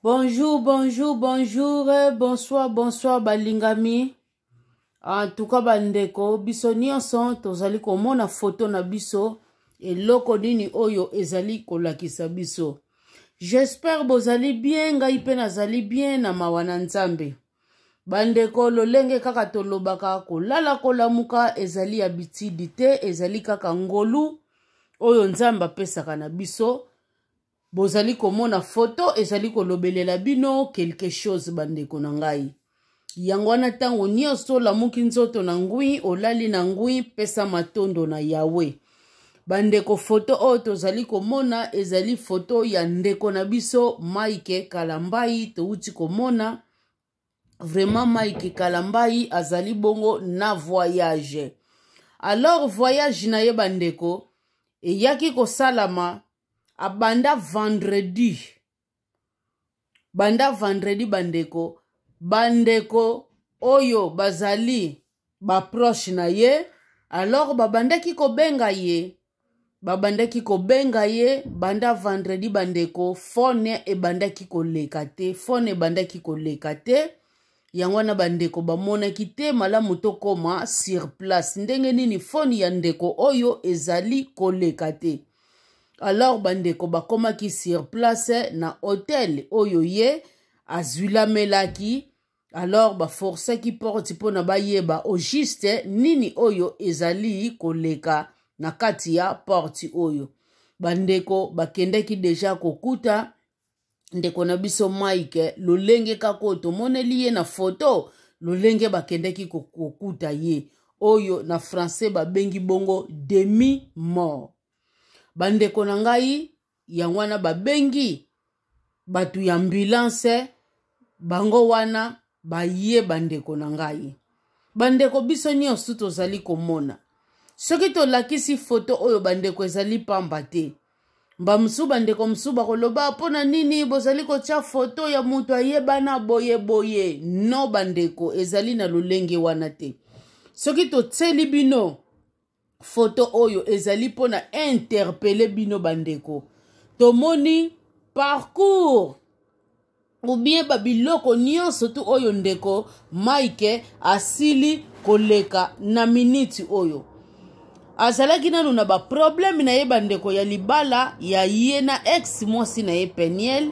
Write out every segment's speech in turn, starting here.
Bonjour, bonjour, bonjour, bonsoir, bonsoir balingami. En tout cas bandeko, biso nyonso tozali komona foto na biso eloko nini oyo ezali kolakisa biso. J'espère bozali bien, ngai mpe nazali bien na mawa na Nzambe. Bandeko lolenge kaka tolobaka kolala kolamuka ezali ya bitidi te, ezali kaka ngolu oyo Nzambe apesaka na biso. bozali komona foto ezali kolobelela bino quelque chose bandeko na ngai yango wana ntango nyonso olamuki nzoto na ngwi olali na ngwi pesa matondo na yawe bandeko foto oyo tozali komona ezali foto ya ndeko na biso mike kalambai touti komona vraiment mike kalambai azali bongo na voyage alors voyage na ye bandeko eyaki kosalama abanda vendredi banda vendredi bandeko bandeko oyo bazali baproche na ye alors babandaki kobenga ye babandaki kobenga ye banda vendredi bandeko fone ebandaki koleka te fone ebandaki koleka te yango wana bandeko bamonaki te malamu tokoma sur place ndenge nini fone ya ndeko oyo ezali koleka te alors bandeko bakomaki sur place na hotel oyo ye azwilamelaki alors baforsaki porte mpo na bayeba au juste nini oyo ezali koleka na kati ya porte oyo bandeko bakendaki deja kokuta ndeko na biso mike lolenge kaka oyo tomoneli ye na foto lolenge bakendaki kokuta ye oyo na français babengi bongo demi mort bandeko na ngai yango wana babengi bato ya ambulance bango wana baye bandeko na ngai bandeko biso nyonso tozali komona soki tolakisi foto oyo bandeko ezali pamba te bamosusu bandeko mosusu bakoloba mpo na nini bozali kotya foto ya moto ayebana boye boye no bandeko ezali na lolenge wana te soki totyeli bino foto oyo ezali mpo na interpele bino bandeko tomoni parcours ou bien babiloko nyonso tu oyo ndeko mike asili koleka na miniti oyo azalaki nanu na baprobleme na ye bandeko ya libala ya ye na ex mwasi na ye peniel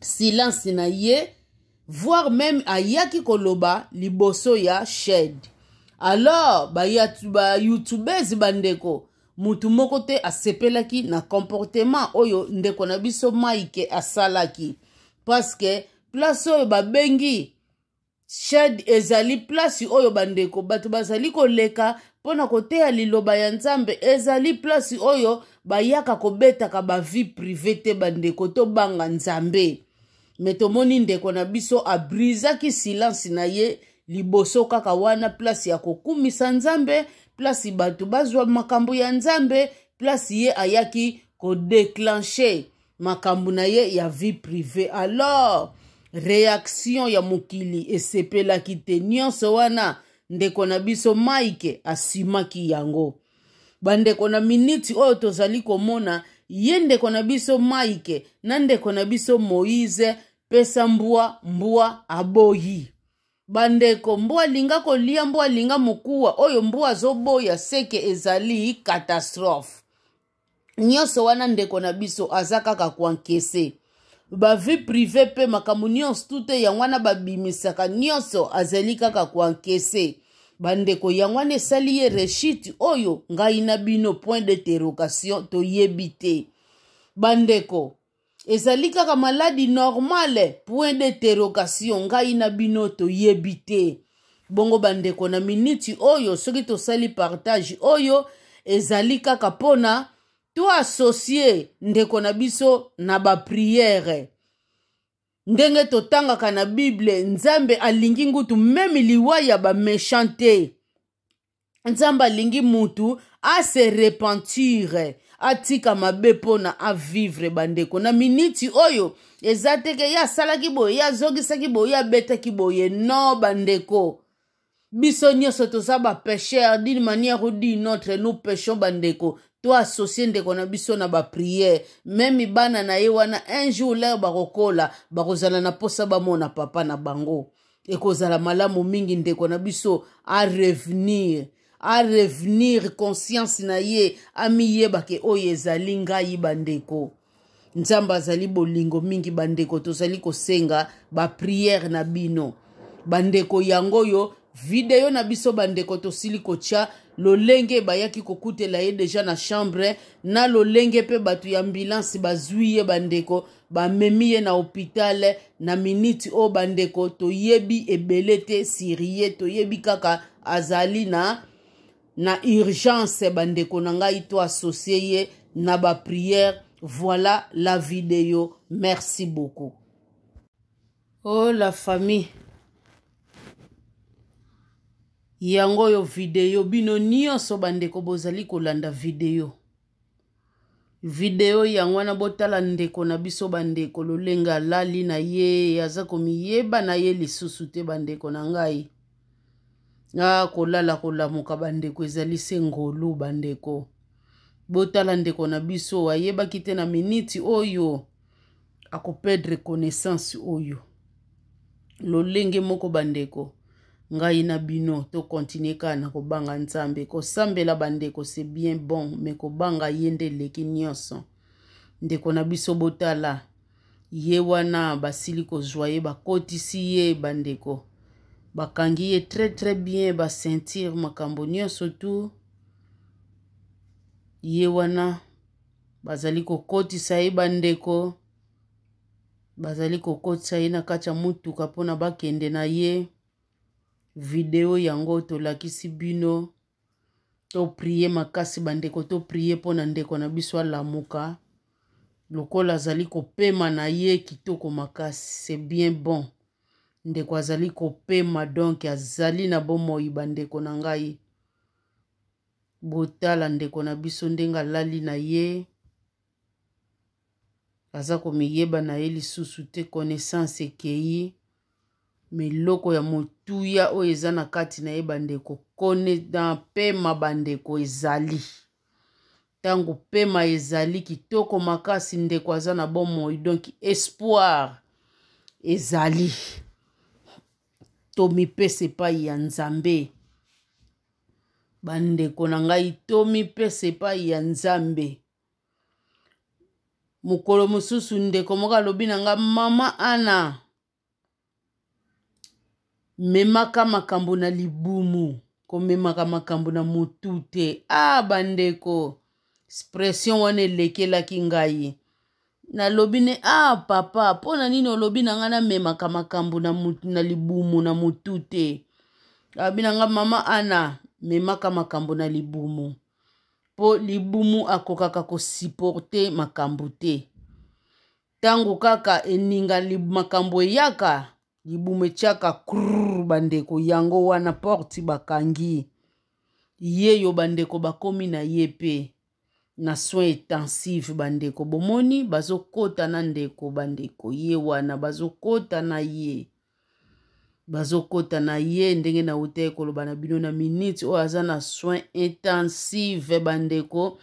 silence na ye voire même ayaki koloba liboso ya shed alors bayoutubese ba bandeko motu moko te asepelaki na comportement oyo ndeko na biso mike asalaki parce que place oyo babengi shade ezali plasi oyo bandeko bato bazali koleka mpo na koteya liloba ya nzambe ezali plasi oyo bayaka kobetaka bavie prive te bandeko tobanga nzambe me tomoni ndeko na biso abrizaki silence na ye liboso kaka wana plasi ya kokumisa nzambe plasi bato bazwa makambo ya nzambe plasi ye ayaki kodeclenche makambo na ye ya vie privée alors reaction ya mokili esepelaki te nyonso wana ndeko na biso mike asimaki yango bandeko na miniti oyo tozali komona ye ndeko na biso mike na ndeko na biso moise pesa mbwa mbwa aboyi bandeko mbwa alinga kolia mbwa alinga mokuwa oyo mbwa azoboya seke ezali katastrofe nyonso wana ndeko na biso aza kaka kuankese bavie prive mpe makambo nyonso tute yango wana babimisaka nyonso azali kaka kuankese bandeko yango wana esali ye reshite oyo ngai na bino point d'interrogation toyebi te bandeko ezali kaka maladi normale point d'interrogation ngai na bino toyebi te bongo bandeko na miniti oyo soki tosali partage oyo ezali kaka mpo na toasosie ndeko na biso na bapriere ndenge totangaka na bible nzambe alingi ngutu meme liwa ya bamechan te nzambe alingi mutu ase repentire atika mabe mpona avivre bandeko na miniti oyo eza teke ye asalaki boye ye azongisaki boye ye abetaki boye no bandeko biso nyonso toza bapesher d'une manière ou d'une autre nous pechons bandeko to associe ndeko na biso na bapriere meme bana na ye wana un jour lere bakokola bakozala na mposa bamona papa na bango ekozala malamu mingi ndeko na biso arevenir arevenir conscience na ye amiyeba ke oyo ezali ngai bandeko nzambe azali bolingo mingi bandeko tozali kosenga bapriere na bino bandeko yango oyo video na biso bandeko tosili kotya lolenge bayaki kokutela ye deja na chambre na lolenge mpe bato ya ambulance bazwi ye bandeko bamemi ye na hopitale na miniti oyo bandeko toyebi ebele te sirie toyebi kaka azali na na urgence bandeko na ngai to associe ye na baprière voilà la video merci beaucoup oh la famille yango oyo video bino nyonso bandeko bozali kolanda video video yango wana botala ndeko na biso bandeko lolenge alali na ye aza komiyeba na ye lisusu te bandeko na ngai a kolala kolamuka bandeko ezali se ngolu bandeko botala ndeko na biso ayebaki te na miniti oyo oh akoperdre connaissance oyo lolenge moko bandeko ngai na bino tokontinue kaka na kobanga nzambe kosambela bandeko se bien bon me kobanga ye nde eleki nyonso ndeko na biso botala ye wana basili kozwa ye bakotisi ye bandeko bakangi ye très très bien basentire makambo nyonso tu ye wana bazali kokotisa ye bandeko bazali kokotisa ye na kati ya motuka mpona bakende na ye video yango tolakisi bino toprie makasi bandeko toprie mpo na ndeko na biso alamuka lokola azali kopema na ye kitoko makasi se bien bon ndeko azali kopema donk azali na bomoi bandeko na ngai botala ndeko na biso ndenge alali na ye aza komiyeba na ye lisusu te connaissance ekei me eloko ya motuya oyo eza na kati na ye bandeko kone na pema bandeko ezali ntango pema ezali kitoko makasi ndeko aza na bomoi donk espoir ezali tomipesa epai ya nzambe bandeko na ngai tomipesa epai ya nzambe mokolo mosusu ndeko moko alobi na ngai mama ana memaka makambo na libumu komemaka makambo na motu te a ah, bandeko expression wana elekelaki ngai nalobi ne ah papa mpo na nini olobi na ngai namemaka makambo na, na libumu na motu te alobi na ngai mama ana memaka makambo na libumu mpo libumu akokaka kosiporte makambo te ntango kaka eninga makambo eyaka libumu etyaka krr bandeko yango wana porte bakangi ye yo bandeko bakomi na ye mpe na soin intensive bandeko bomoni bazokota na ndeko bandeko ye wana bazokota na ye bazokota na ye ndenge nautaki koloba na bino na minute oyo aza na soin intensive bandeko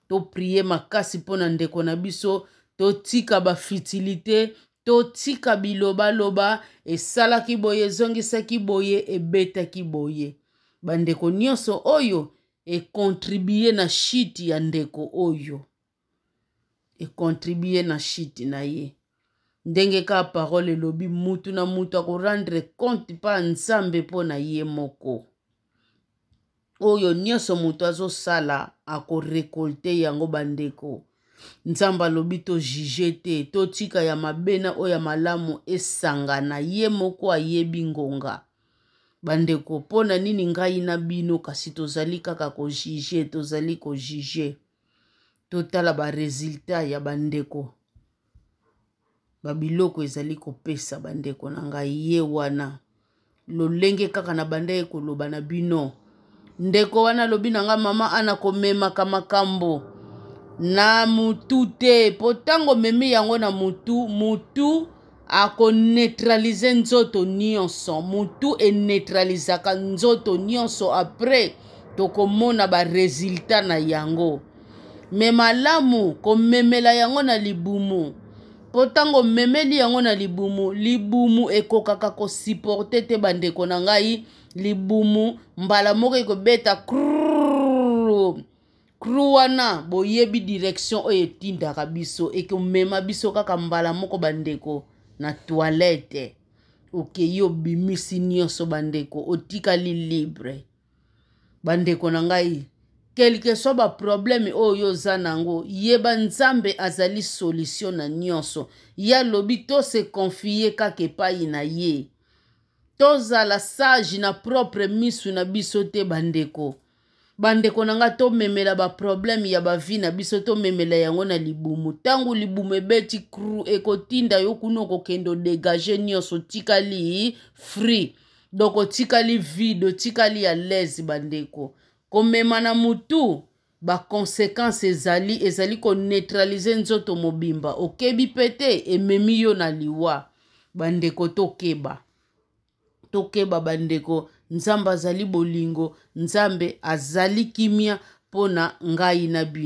toprie makasi mpo na ndeko na biso totika bafitilite totika bilobaloba esalaki boye ezongisaki boye ebetaki boye bandeko nyonso oyo ekontribue na shiti ya ndeko oyo ekontribue na shiti na ye ndenge kaka parole elobi mutu na mutu akorendre compte mpa nzambe mpo na ye moko oyo nyonso moto azosala akorekolte yango bandeko nzambe alobi tojuge te totika ya mabe na oyo ya malamu esangana ye moko ayebi ngonga bandeko mpo na nini ngai na bino kasi tozali kaka kojuge tozali kojuge totala baresultat ya bandeko babiloko ezali kopesa bandeko na ngai ye wana lolenge kaka na bandaki koloba na bino ndeko wana alobi na nga mama ana komemaka makambo na mutu te mpo ntango omemi yango na mutu mutu akoneutralize nzoto nyonso mutu eneutralizaka nzoto nyonso apres tokomona baresulta na yango me malamu komemela yango na libumu mpo ntango omemeli yango na libumu libumu ekokaka kosiporte te bandeko na ngai libumu mbala moko ekobeta kruu kru wana boyebi direction oyo etindaka biso ekomema biso kaka mbala moko bandeko na toilette okei obimisi nyonso bandeko otikali libre bandeko na ngai kelke swa baprobleme oyo oza na yango yeba nzambe azali solution na nyonso ye alobi to se confie kaka epai na ye tozala sage na propre misu na biso te bandeko bandeko na ngai tomemela baproblème ya bavi na biso tomemela yango na libumu ntango libumu ebeti cru ekotinda yo kuna okokende odegage nyonso otikali free donk otikali vide otikali ya laise bandeko komema na motu ba consequences ezali ezali ko neutraliser nzoto mobimba okebi pe te ememi yo na liwa bandeko tokeba tokeba bandeko nzambe azali bolingo nzambe azali kimia mpo na ngai na bino